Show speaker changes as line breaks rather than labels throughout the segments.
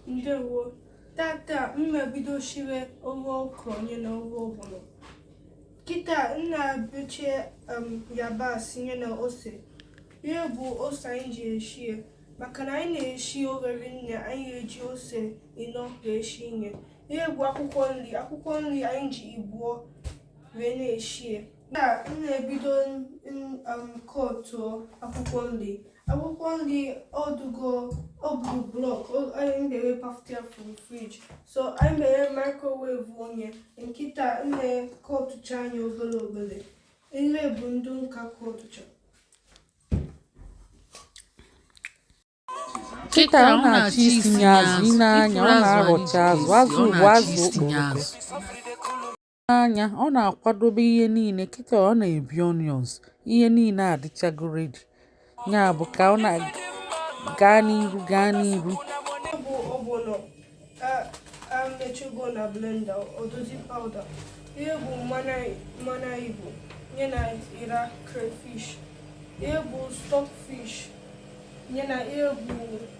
ndewo tata m na-ebido shire ofe okra nye na ofe ọgbọnọ kịta m na-ebeche um, yabasị nye na ose ihe bụ ose anyị ji eshi ya maka na anyị na-eshi obere nri anyị eji ose ịnọ wee shi nye ihe bụ akwụkwọ nri akwụkwọ nri anyị ji ibuo wee na-eshi ya na m na-ebido kọtụọ akwụkwọ nri akwụkwọ nri ọ dịgo ọ bụ block anyị mere pafụta from fridge so anyị mere microwave nya kịta m na-akọtụcha nya obere obere ihe bụ ndị nka
kọtụcha Kịta ọ na-achọ isinye azụ, i nee anya ọ na-arọcha azụ, azụ bụ azụ okporoko. nee anya ọ na-akwadobe ihe niile kịta ọ na-ebi onions ihe niile adịchago ready ya bụ ka ọ na gaa n'iru gaa n'iru echugo
na blender ọ dịzi powder ihe bụ mmanụ igbo nye na ira crayfish ihe bụ stockfish nye na ihe bụ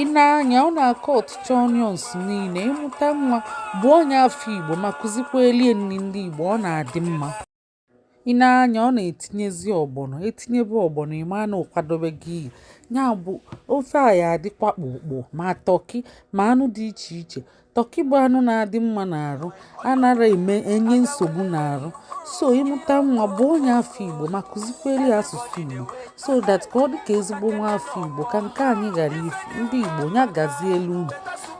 i nee anya ọ na-akọtụcha onions niile ị mụta nwa bụ onye afọ igbo ma kụzikwalị ya nri ndị igbo ọ na-adị mma i nee anya ọ na-etinyezi ọgbọnọ etinyebe ọgbọnọ ime anụ ọ kwadobe ji isi ya bụ ofe a ya adịkwa ọkpụkpụ ma tọki ma anụ dị iche iche Tọkị bụ anụ na-adị mma n'arụ, anara eme enye nsogbu n'arụ. So ị mụta nwa bụ onye afọ Igbo ma kụzikwere ya asụsụ Igbo so that ka ọ dị ka ezigbo nwa afọ Igbo ka nke anyị ghara ifu. Ndị Igbo ya gazielu unu.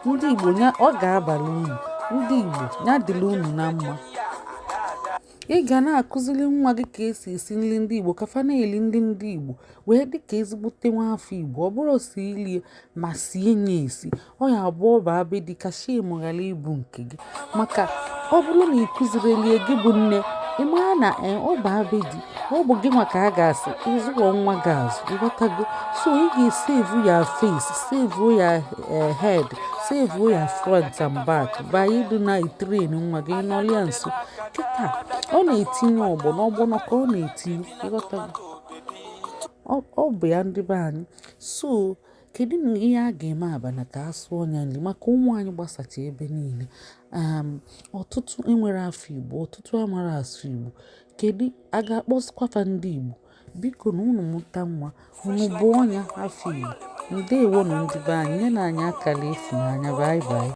Ndị Igbo ya ọ ga-abara unu. Ndị Igbo ya dịrị unu na mma. Ị ga na-akụziri nwa gị ka esi esi nri ndị Igbo ka fa na-eli nri ndị Igbo wee dị ka ezigbote nwa afọ Igbo ọ bụrụ si i lie ma sie nya esi ọ ya-abụ ọ baa be di ka shame ghara ịbụ nke gị maka ọ bụrụ na ị kụzirọlị ya gị bụ nne ị mara na e, ọ baa be di ọ bụ gị nwa ka a ga-asị ị zụrọ nwa gị azụ ịghọtago so ị ga-esevu ya face sevu ya e, head sevu ya front and back by ịdị na-etrain nwa gị nọrọ ya nso kịta ọ na-etinye ọgbọnọ ọgbọnọ ka ọ na-etinye ịghọtago ọ bụ ya ndị be anyị so kedu na ihe a ga-eme abana ka a sụọ ya nri maka ụmụ anyị gbasacha ebe niile um, ọtụtụ enwere afọ igbo ọtụtụ amara asụ igbo kedu a ga-akpọsịkwafa ndị igbo bikonụ unu mụta nwa unu bụ onye afọ igbo ndewo nụ ndị be anyị nye na anyị akara efu n'anya bye bye